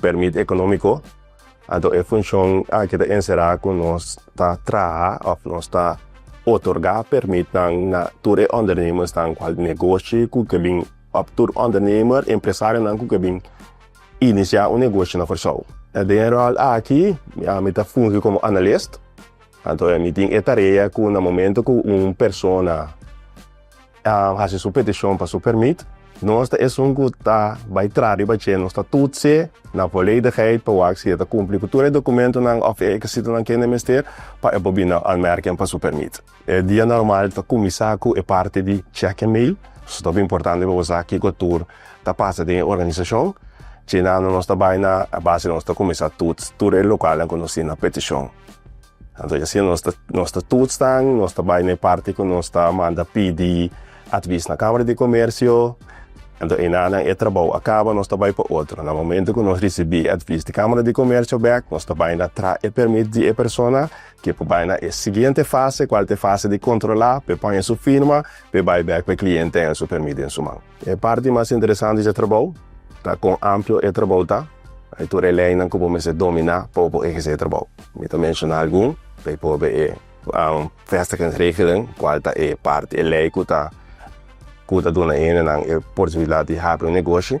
Permit economico, anto e funcion aki ta encerá cu nos ta traha of nos ta otorgá permitnan na tur e ondernemersnan cual negoshi cu ke bin of tur ondernemer, empresarionan cu ke bin iniciá un negoshi na Kòrsou. Den e ròl aki mi ta fungi como analist, anto mi tin e tarea cu na momento cu un persona. a hasi su petishon pa su permit, nos ta esun ku ta bai traha riba dje. Nos ta tutse na voledigheit pa wak si e ta kumpli ku tur e dokumentunan òf e rekisitonan ku hende mester pa e por bini anmerking pa su permit. E dia normal ta kuminsá ku e parti di check en mail. So ta importante pa bo sa kiko tur ta pasa den e organisashon. Dje nan nos ta bai na e base nos ta kuminsá tuts tur e lokalnan ku nos tin na petishon. Anto y asina nos ta nos ta tuts nan, nos ta bay na e parti cu nos ta manda pidi advis na Camara di Comercio, anto eynan nan e trabou a caba nos ta bay pa otro, na momento cu nos ricibi e advis di Camara di Comercio bek nos ta bay na traha e permit di e persona ke por bay na e siguiente fase cual ta e fase di controla pe pone su firma pe bay bek pa e cliente den su permit den su man. E parti mas interesante di e trabou ta kon amplio e trabou ta i tur e leinan ku bo mester dominá pa bo por ehersé e trabou. Mi ta menshoná algun, bijvoorbeeld e vestigingsregeling, kual ta e parti, e lei ku ta duna hendenan e posibilidat di habri un negoshi.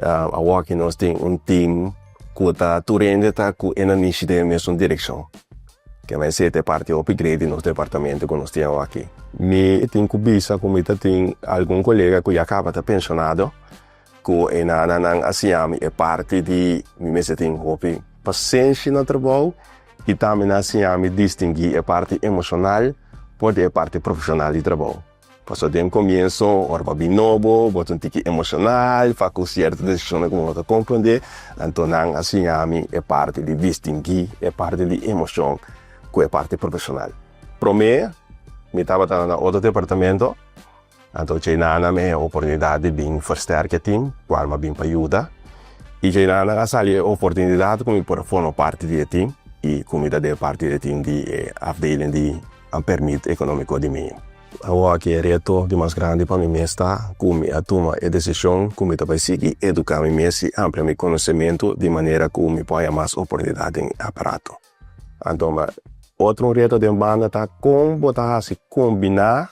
Awoki nos tin un team cu ta tur hende ta cu e na mishi den e mesun direccion. Ki'en a esey ta e parti hopi great di nos departamento cu nos tin awoki. Mi tin cu bisa cu mi ta tin algun colega cu ya caba ta pensionado cu e nana nan a siñami e parti di mi mester tin hopi pasenshi na trabou y tambe nan a siñami distingui e parti emocional por di e parti profesional di trabou. Pasobra den comienso, ora bo a bin nobo, bo ta un tiki emocional pa cu cierto decisionnan cu bo no ta comprende, anto nan a siña mi e parti di distingui e parti di emocion cu e parti profesional. Prome, mi tabata na otro departamento, anto djei nan a dame e oportunidad di bin versterk e team cu al mi a bin pa yuda, y djei nan a sali e oportunidad cu mi por a forma parti di e team y cu mi ta den parti di e team di e afdeling di. a permit economico di mi. Awa cu e reto di mas grandi pa mi mes ta cu mi a tuma e decision cu mi ta bay sigui educa mi mes y amplia mi conocemento di manera cu mi por haya mas oportunidad den e aparato. Anto, otro un reto den banda ta con bo ta haci combina.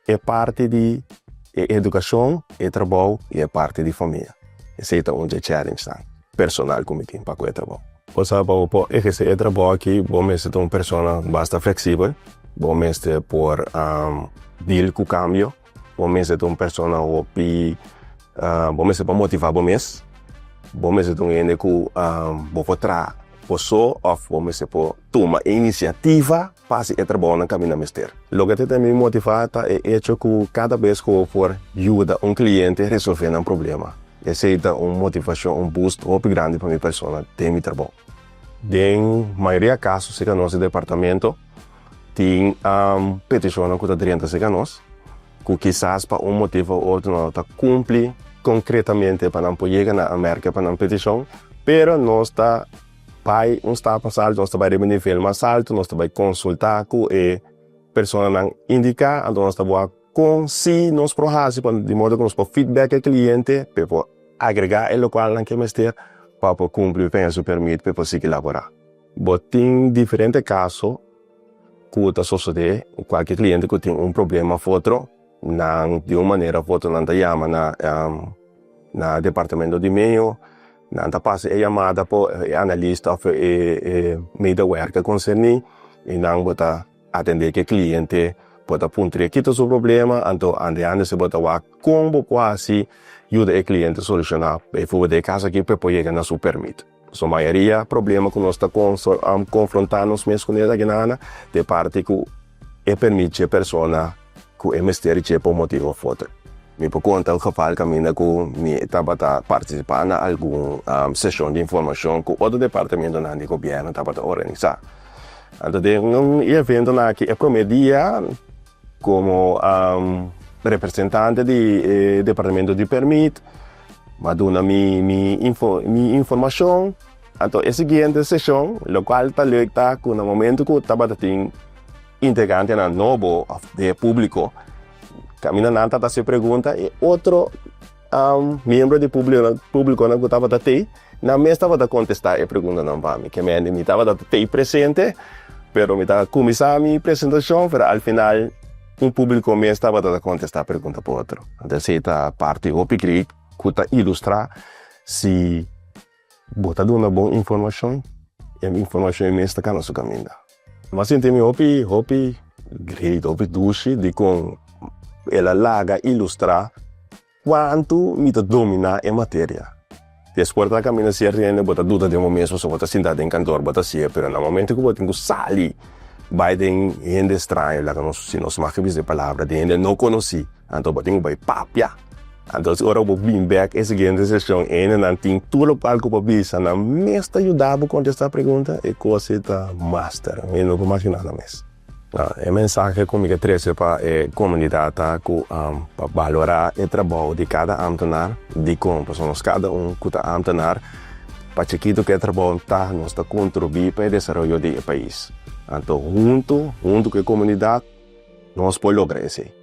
E parti di e edukashon, e trabou i e parti di famia. Esei ta un dje challengnan personal ku mi tin pa ku e trabou. Bo sa pa bo por ehersé e trabou aki bo mester ta un persona basta fleksibel, bo mester por deal ku kambio, bo mester ta un persona hopi bo mester por motivá bo mes, bo mester ta un hende ku bo por traha por so òf bo mester por tuma e inisiativa. pa hasi e trabounan ku ami na mester. Loke ta tene mi motivá ta e echo ku kada bes ku bo por yuda un kliente resolvé nan problema. Esei ta un motivashon, un boost hopi grandi pa mi persona den mi trabou. Den mayoria kaso serka nos e departamento tin petishonnan ku ta drenta serka nos, ku kisas pa un motiv òf otro no ta kumpli konkretamente pa nan por yega na Mèrkè pa nan petishon, pero nos ta. Bai un stap mas alto, nos ta bai riba e nivel mas alto, nos ta bai konsultá ku e personanan indiká, anto nos ta bo a kon si nos por hasi pa di modo ku nos por feedback e kliente pa e por agregá e lokalnan ku e mester pa por kumpli pen su permit pa e por sigui laborá. Bo tin diferente kaso ku ta sosodé ku kualke kliente ku tin un problema of otro, nan di un manera of otro nan ta yama na na departamento di meo. Nan ta pasa e yamada pa e analista of e medewerker konserní i nan bo ta atendé ku e kliente, bo ta puntr'é ki ta su problema, anto andeándose bo ta wak kon bo por hasi yuda e kliente solushoná. Beifuba dje kas akí p'e por yega na su pèrmit. So mayoria problema ku nos ta konfrontá nos mes ku nesaki nannan ta e parti ku. E permit dje persona ku e mester dje pa un motibu òf otro. Mi por konta un geval kaminda ku mi tabata partisipá na algun seshon di informashon ku otro departamentonan di gobièrnu tabata organisá. Anto den un e eventonan akí e promé dia komo representante di e departamento di permit mi a duna mi mi informashon. Anto e siguiente seshon, lokual ta leuk ta ku na momentu ku tabata tin integrantenan nobo òf e públiko, kaminda nan ta hasi pregunta e otro miembro di públikonan ku tabata tei, nan mes tabata kontestá e preguntanan pa mi. Keme mi tabata tei presente, pero mi ta kuminsá mi presentashon, pero al final un públiko mes tabata ta kontestá pregunta pa otro. Esei ta parti hopi grei ku ta ilustrá si. Bo ta duna bon informashon e informashon e mes ta kana su kaminda. Bo a sinti mi hopi hopi great hopi dushi dikon el a laga ilustrá kuantu mi ta dominá e materia. Despues bo ta kaminda si e rende bo ta duda den bo mes pasobra bo ta sintá den kantor bo ta hasi'e pero na momento ku bo tin ku sali bai den hende straño laga nos si nos mag a bisa e palabra den hende no konosí anto bo tin ku bai papia. Anto si ora bo bini bek e siguiente sesion ene nan tin tur lo palco pa bisa, nan mes ta yuda bo contesta pregunta, e cosi ta master, mi no por mashina nan mes. E mensahe cu mi ke trece pa e comunidad ta cu pa balora e trabou di cada ambtenaar, dicon, pasobra nos cada un cu ta ambtenaar, pa chikito ke e traboun ta, nos ta contribui pa e desaroyo di e pais, anto hunto, hunto cu e comunidad, nos por logra esey.